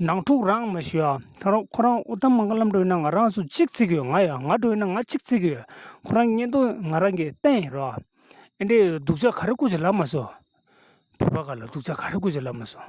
ནང་འཁྲུག་རང་མི་ཤེས་ཨ། ད་རུང་ཁོ་རང་ཨུ་ཏམ་མ་མཁའ་ལམ་བགྲོད་ན་ང་རང་སུ་གཅིག་བརྩིགས་ཡོད་ང་ཡང་ང་བགྲོད་ན་ང་གཅིག་བརྩིགས་ཡོད་ཁོ་རང་གཉེན་སྟོན་ང་རང་གི་བསྟན་ཡིན་རོ། ཨེ་འདྲའི་སྡུག་ཅག་ག་རེ་སྐུ་ཚེ་ལབ་མ་སོང། བོད་པ་ག་ལ་སྡུག་ཅག་ག་རེ་སྐུ་ཚེ་ལབ་མ་སོང།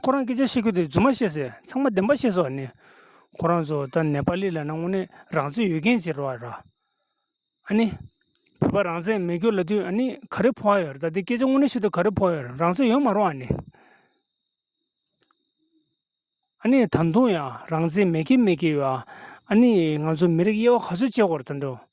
ཁོ་རང་སྐད་ཆ་བཤད་ཁུལ་དེ་རྫུན་མ་བཤད་ཟེར་ཚང་མ་བདེན་པ་བཤད་སོགས་ནི། ཁོ་རང་ཚོ་ད་ནེ་པ་ལི་ལ་ན་དངོས་གནས་རང་བཙན་ཡོད་མཁན་ཅིག་རེད། ཨ་ནི། བོད་པ་རང་བཙན་མེད་སྐྱོར་ལ་དུས་ཨ་ནི་ག་རེ་ཕོག་ཡོད་རེད་ད་དེ་སྐད་ཆ་དངོས་གནས་ཤོད་དུས་ག་རེ་ཕོག་ཡོད་རེད་རང་བཙན་ཡོད་མ་རུང་ཨ་ནི། ཨ་ནི་ད་དུང་ཡང་རང་བཙན་མེད་མཁན་མེད་མཁན་ཡོད་ཨ་ནི་ང་ཚོ་མི་རིགས་དབྱེ་བ་ག་ཚོད་བཅད་དགོས་རེད་ད་དུང།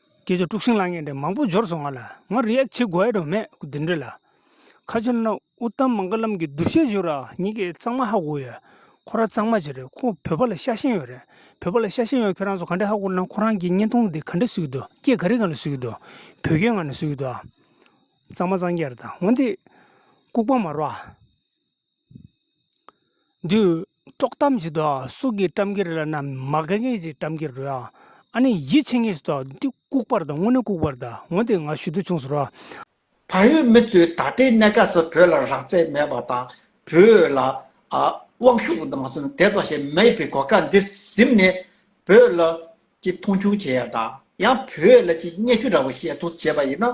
ཁྱེད་ཀྱི་དཀྲུགས་ཤིང་ལ་ངས་འདྲེ་མང་པོ་འབྱོར་སོང་ང་ལ་ངར་རེའག་བྱེད་དགོས་དོན་མེད་གུ་དེ་འདྲེ་ལ། ཁ་ཆེ་ན་ཨུ་ལྟམ་མང་ཀ་ལམ་གྱི་བསྡུར་བཤད་བྱོས་རོགས་ཉིད་ཀྱི་གཙང་མ་ཧ་གོ་ཡོད་ཁོ་ར་གཙང་མ་ཅི་རེད་ཁོ་བོད་པ་ལ་ཤ་ཞེན་ཡོད་རེད་བོད་པ་ལ་ཤ་ཞེན་ཡོད་ཁྱེད་རང་ཚོ་ག་འདྲེ་ཧ་གོ་ན་ཁོ་རང་གྱི་བརྙན་ཐུང་འདི་ག་འདྲེ་བཟོས་ཀྱི་འདུག་སྐྱེ་ག་རི་ང་ལ་བཟོས་ཀྱི་འདུག་བོད་སྐད་ང་ལ་བཟོས་ཀྱི་འདུག་ཨ། གཙང་མ་གཙང་རྒྱལ་རེད་ད་འོ་འདི། ལྐུགས་པ་མ་རོགས་ཨ། འདུས། དཀྲོག་གཏམ་ཞིག་དང་སུག་གི་བཀྲམ་གྱི་རེད་ལ་ནམ་མ་ག་ངས་ཞིག་བཀྲམ་གྱི་རེད་ཨང། ཨ་ནི་ཡིད་ཆེས་ངེས་སུ་དང་འདི་ལྐུགས་པར་དང་དངོས་གནས་ལྐུགས་པར་དང་ངོ་དེ་ང་ཞུ་དུས་ཆུང་ཟེར་བ། བལ་ཡུལ་མི་ཚོས་ད་ལྟའི་གནད་ཀ་སོགས་བོད་ལ་རག་རྩལ་མེད་པ་དང་བོད་ལ་དབང་ཤུགས་མ་སོང་ནས་དེ་ཙམ་ཞིག་མེད་པའི་གོ་སྐབས་འདི་གཟིམས་ནས་བོད་ལ་ཀྱི་མཐོང་ཆུང་བྱེད་ཡ་དང་ཡང་བོད་ལ་ཀྱི་བརྙས་བཅོས་འདྲ་བོ་བཤད་ཚོགས་བྱེད་པ་ཡིན་ན།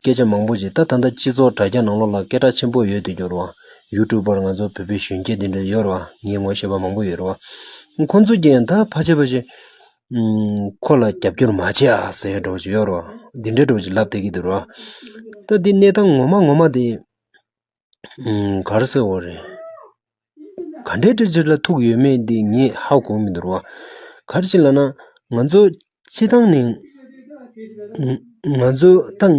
སྐད་ཆ་མང་པོ་བྱས་ད་ད་ལྟ་སྤྱི་ཚོགས་དྲ་རྒྱ་ནང་ལོག་ལ་སྐད་གྲགས་ཆེན་པོ་ཡོད་དུ་གྱུར་བ། ཡུ་ཀྲུག་པར་ང་ཚོ་བོད་པའི་གཞོན་སྐྱེས་འདི་འདྲ་ཡོད་རེད་བ་ངས་ངོ་ཤེས་པ་མང་པོ་ཡོད་རེད་བ། ཁོང་ཚོ་ཀྱིས་ད་ཕ་ཆེ་ཕ་ཆེ། ཁོ་ལ་རྒྱབ་སྐྱོར་མ་བྱེད་ཨ་ཟེར་སྒྲོག་ཅིག་ཡོད་རེད་བ། འདི་འདྲའི་སྒྲོག་ཅིག་ལབ་བསྡད་ཀྱི་འདུག་རེད་བ། ད་འདི་གནས་སྟངས་ངོ་མ་ངོ་མ་དེ། གར་སེ་འོ་རེད། ག་འདྲའི་དྲི་ཆུ་ལ་ཐུག་ཡོད་མེད་འདི་ངས་ཧ་གོ་མི་འདུར་བ། གར་ཞིག་ལ་ན་ང་ཚོ་སྤྱི་བཏང་ནས། ང་ཚོ་ད་ང་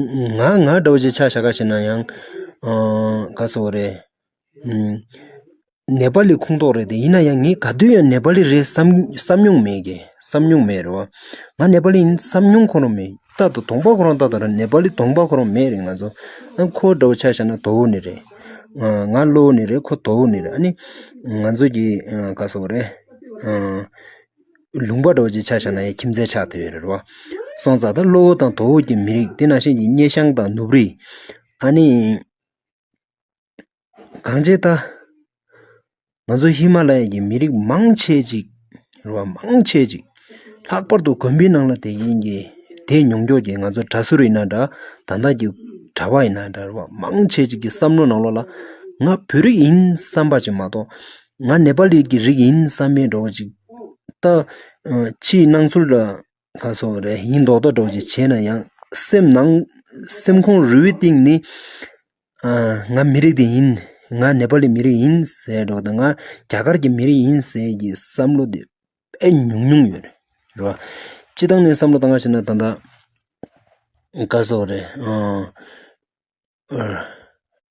ང་འདྲ་བོ་ཞིག་ཆ་ཞག་ག་ཞིག་ན་ཡང། གར་སེ་འོ་རེད། ནེ་པ་ལི་ཁུངས་གཏོགས་རེད་དེ་ཡིན་ན་ཡང་ངས་ག་དུས་ཡང་ནེ་པ་ལི་རེད་བསམ་བསམ་མྱོང་མེད་གི་བསམ་མྱོང་མེད་རེད་བ། ང་ནེ་པ་ལི་ཡིན་བསམ་མྱོང་ཁོ་རང་མེད། རྟག་ཏུ་དོགས་པ་ཁོ་རང་རྟག་ཏུ་རེད་ནེ་པ་ལི་དོགས་པ་ཁོ་རང་མེད་རེད་ང་ཚོ། ཁོ་འདྲ་བོ་ཆགས་ཤག་ན་དོགས་བོ་ནི་རེད། ང་བློ་བོ་ནི་རེད་ཁོ་དོགས་བོ་ནི་རེད་ཨ་ནི། ང་ཚོ་གི་ག་ས་བོ་རེད། ལུང་པ་འདྲ་བོ་ཅིག་ཆགས་ཤག་ན་ཡང་ཁྱིམ་མཚེས་ཆགས་ཐུབ་ཡོད་རེད་བ། སོང་ཙང་ད་བློ་བོ་དང་དོགས་བོ་གྱི་མི་རིགས་དེ་ནང་བཞིན་གྱི་སྙེ་ཤང་དང་ནུབ་རིས། ཨ་ནི། གངས་ཅན་ལྟར། ང་ཚོ་ཧི་མ་ལ་ཡའི་ཀྱི་མི་རིགས་མང་ཆེ་གཅིག་རེད་བ་མང་ཆེ་གཅིག་ལྷག་པར་དུ་དགོན་པའི་ནང་ལ་དེ་གིན་གྱི་དེ་མྱོང་འགྱོགས་ཀྱི་ང་ཚོ་གྲྭ་ཟུར་ཡིན་ན་འདྲ་ད་ལྟ་གྱི་གྲྭ་བ་ཡིན་ན་འདྲ་རེད་བ་མང་ཆེ་གཅིག་གི་བསམ་བློ་ནང་ལོགས་ལ་ང་བོད་རིགས་ཡིན་བསམ་པ་ཅིག་མ་གཏོགས་ང་ནེ་པ་ལི་ཀྱི་རིགས་ཡིན་བསམ་པའི་འགྲོ་བ་ཅིག་ད་ཕྱིའི་སྣང་ཚུལ་ལ་ལྷ་སོགས་རེ་ཡིན་མདོག་མདོག་སྒྲོག་ཅིག་བྱས་ན་ཡང་སེམས་ནང་སེམས་ཁོང་རུས་གཏིང་ནས་ང་མི་རིགས་འདི་ཡིན་ང་ནེ་པ་ལའི་མི་རིགས་ཡིན་ཟེར་མདོག་དང་ང་རྒྱ་གར་གྱི་མི་རིགས་ཡིན་ཟེར་གྱི་བསམ་བློ་དེ་དཔེ་ཉུང་ཉུང་ཡོད་རེད་རེད་བ་སྤྱི་བཏང་ནས་བསམ་བློ་བཏང་བ་ཞིག་ན་ད་ལྟ་སྐར་སོགས་རེ་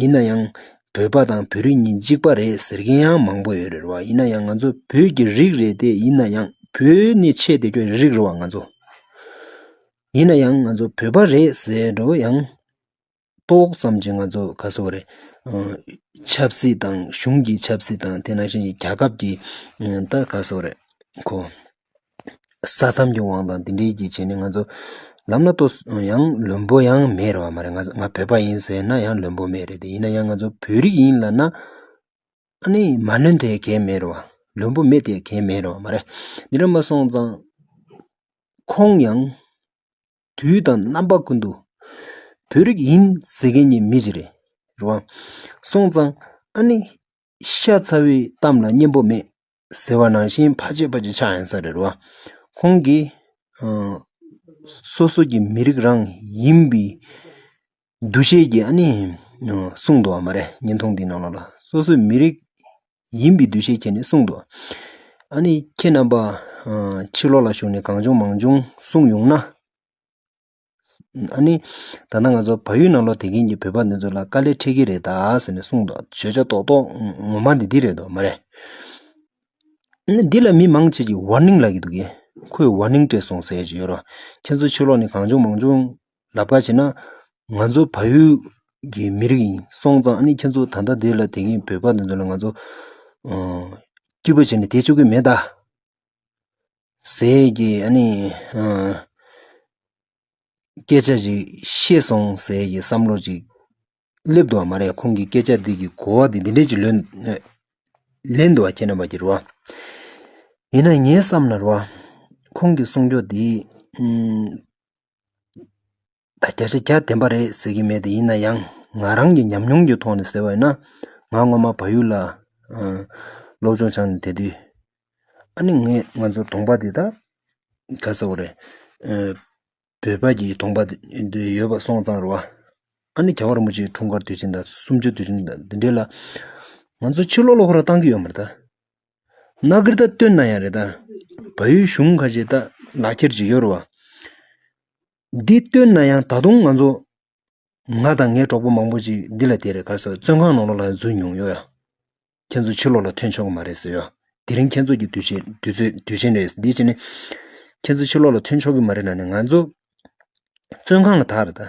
ཡིན་ན་ཡང་བོད་པ་དང་བོད་རིགས་གཉིས་གཅིག་པ་རེད་ཟེར་མཁན་ཡང་མང་པོ་ཡོད་རེད་བ་ཡིན་ན་ཡང་ང་ཚོ་བོད་ཀྱི་རིགས་རེད་དེ་ཡིན་ན་ཡང་བོད་ནས་ཆེད་དེ་ཀྱོ་རིགས་རེད་བ་ང་ཚོ། ཡིན་ན་ཡང་ང་ཚོ་བོད་པ་རེད་ཟེར་འགྲོ་བ་ཡང་ཏོག་ཙམ་གྱི་ང་ཚོ་ག་ས་བ་རེད་ཆབ་སྲིད་དང་གཞུང་གི་ཆབ་སྲིད་དང་དེ་ནང་བཞིན་རྒྱ་ཁབ་ཀྱི་ད་ག་ས་བ་རེད་ཁོ། ས་མཚམས་ཀྱི་དབང་དང་འདི་འདྲའི་གྱི་བྱས་ནས་ང་ཚོ་ལམ་ལ་ལྟོས་ཡང་བླུན་པོ་ཡང་མེད་རེད་བ་མ་རེད་ང་ཚོ་ང་བོད་པ་ཡིན་ཟེར་ན་ཡང་བླུན་པོ་མེད་རེད་དེ་ཡིན་ན་ཡང་ང་ཚོ་བོད་རིགས་ཡིན་ལབ་ན་ཨ་ནི་མ་བླུན་དེ་གས་མེད་རེད་བ་བླུན་པོ་མེད་དེ་གས་མེད་རེད་བ་མ་རེད་འདི་འདྲ་མ་སོང་ཙང་ཁོང་ཡང་དུས་དང་རྣམ་པ་ཀུན་ཏུ་བོད་རིགས་ཡིན་ཟེར་མཁན་གྱི་མི་ཞིག་རེད་རེད་བ་སོང་ཙང་ཨ་ནི་ཤ་ཚ་བའི་གཏམ་ལ་སྙན་པོ་མེད། ཟེར་བ་ནང་བཞིན་ཕ་ཆེ་ཕ་ཆེ་ཆགས་ཡང་ས་རེད་བ། ཁོང་གིས། སོ་སོ་ཀྱི་མི་རིགས་རང་ཡིན་པའི་འདུ་ཤེས་ཀྱིས་ཨ་ནི། གསུངས་འདུག་བ་མ་རེད་བརྙན་ཐུང་འདིའི་ནང་ལ། སོ་སོའི་མི་རིགས་ཡིན་པའི་འདུ་ཤེས་ཁྱེར་ནས་གསུངས་འདུག། ཨ་ནི་ཁྱེད་རྣམ་པ། ཕྱི་ལོགས་ལ་བཞུགས་ནས་གང་བྱུང་མང་བྱུང་གསུངས་ཡོང་ན། ཨ་ནི། ད་ལྟ་ང་ཚོ་བལ་ཡུལ་ནང་ལོག་དེད་མཁན་གྱི་བོད་པ་འདི་ཚོ་ལ་དཀའ་ལས་འཕྲད་ཀྱི་རེད་ད་ཟེར་ནས་གསུངས་འདུག་བརྗོད་བྱ་རྡོག་རྡོག་ངོ་མ་ནི་འདི་རེད་དོ་མ་རེད། འདི་ལ་མི་མང་ཆེ་གིས Warning ལབ་ཀྱི་འདུག་གས། ཁོས Warning སྤྲད་སོང་ཟེར་གྱི་ཡོད་རོ། ཁྱེད་ཚོ་ཕྱི་ལོག་ནས་གང་བྱུང་མང་བྱུང་ལབ་ཀ་བྱེད་ན། ང་ཚོ་བལ་ཡུལ་གྱི་མི་རིགས་ཡིན་སོང་ཙང་ཨ་ནི་ཁྱེད་ཚོ་ད་ལྟ་འདི་ལ་དེད་མཁན་བོད་པ་འདི་ཚོ་ལ་ང་ཚོ། སྐྱིད་པོ་བྱས་ནས་དེད་ཆོག་གི་མེད་ད། ཟས་ཀྱི་ནི་སྐད་ཆ་ཞིག་ཤེས་སོང་ཟས་ཀྱི་བསམ་བློ་ཅིག་སླེབས་འདུག་བ་མ་རེད་ཁོང་གི་སྐད་ཆ་འདི་གི་གོ་བ་འདི་འདི་འདྲས་ཅིག་ལོན་ལེན་འདུག་བ་ཁྱེད་རྣམ་པ་ཀྱི་རེད་བ། ཡིན་ན་ངས་བསམ་ན་རེད་བ། ཁོང་གི་གསུང་ཕྱོགས་འདི། ད་བརྒྱ་ཆ་བརྒྱ་བདེན་པ་རེད་ཟེར་གྱི་མེད་ཡིན་ན་ཡང་ང་རང་གི་ཉམས་མྱོང་གི་ཐོག་ནས་ཟེར་བ་ཡིན་ན། ང་སྔོན་མ་བ་ཡུལ་ལ་སློབ་སྦྱོང་སྦྱངས་ནས་བསྡད་དུས། ཨ་ནེ་ངས་ང་ཚོ་གདོང་པ་དེ་དག་ག་ས་བོ་རེད། བོད་པ་གྱི་གདོང་པ་དེ་ཡོད་པ་སོང་ཙང་རེད་བ། ཨ་ནེ་ག་བར་མུ་ཇིའི་འཁྲུངས་སྐར་དུས་ཆེན་དང་གསུམ་བཅུ་དུས་ཆེན་དང་འདི་འདྲའི་ལ། ང་ཚོ་ཕྱི་ལོག་ལོག་ཁོ་རང་བཏང་གི་ཡོད་མ་རེད་ད། ན་གིར་ད་སྟོན་ན་ཡང་རེད་ད། བ་ཡུལ་གཞུང་ཁ་ཤས་ད་ལག་འཁྱེར་བྱེད་ཀྱི་ཡོད་རེད་བ། འདི་བཏོན་ན་ཡང་ད་དུང་ང་ཚོ་ང་དང་ངའི་གྲོགས་པོ་མང་པོ་ཅིག་འདི་ལ་དེ་རེད་ག་ས་བཙོན་ཁང་ནང་ལོག་ལ་འཛུལ་མྱོང་ཡོད་ཡ། ཁྱེད་ཚོ་ཕྱི་ལོག་ལ་ཐོན་ཆོག་གི་མ་རེད་ཟེར་ཡ། དེ་རིང་ཁྱེད་ཚོ་གི་དུས་ཆེན་དུས་ཚོད་དུས་ཆེན་རེད་དེ་བྱས་ནས་ཁྱེད་ཚོ་ཕྱི་ལོག་ལ་ཐོན་ཆོག་གི་མ་རེད་ལ་ནས་ང་ཚོ་བཙོན་ཁང་ལ་དྭགས་རེད་ད།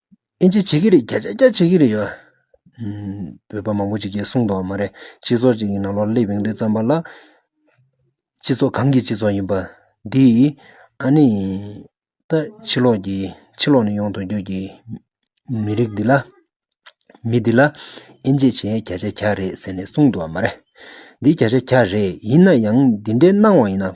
ཨིན་ཇི་བྱེད་ཀྱི་རེད་རྒྱ་རྒྱ་བྱེད་ཀྱི་རེད་ཡ། བོད་པ་མང་པོ་ཅིག་གིས་གསུངས་འདུག་མ་རེད་སྤྱི་ཚོགས་ཅིག་གི་ནང་ལོག་སླེབས་ཡོང་དུས་བརྩམས་པ་ལ། སྤྱི་ཚོགས་གང་གི་སྤྱི་ཚོགས་ཡིན་པ། འདིས་ཨ་ནི། ད་ཕྱི་ལོག་གི་ཕྱི་ལོག་ནས་ཡོང་དུ་འཇུག་གི། མི་རིགས་འདི་ལ། མི་འདི་ལ། ཨིན་ཇི་བྱེད་རྒྱ་བྱེད་ག་རེད་ཟེར་ནས་གསུངས་འདུག་མ་རེད། འདི་རྒྱ་བྱེད་ག་རེད་ཡིན་ན་ཡང་འདི་འདྲའི་སྣང་བ་ཡིན་ན།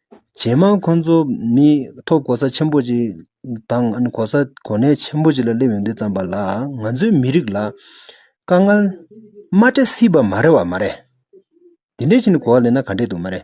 ཇེ་མང་ཁོ་ཚོ་ནི་ཐོབ་གོ་ས་ཆེན་པོ་ཞིག་དང་གོ་ས་གོ་གནས་ཆེན་པོ་ཞིག་ལ་སླེབས་ཡོང་དུས་ཙམ་པ་ལ་ང་ཚོའི་མི་རིགས་ལ་དཀའ་ངལ་མ་སྤྲད་སྲིད་པ་མ་རེད་བ་མ་རེད་དེ་འདྲས་ཞིག་གོ་བ་ལས་ན་ག་འདྲས་འདུག་མ་རེད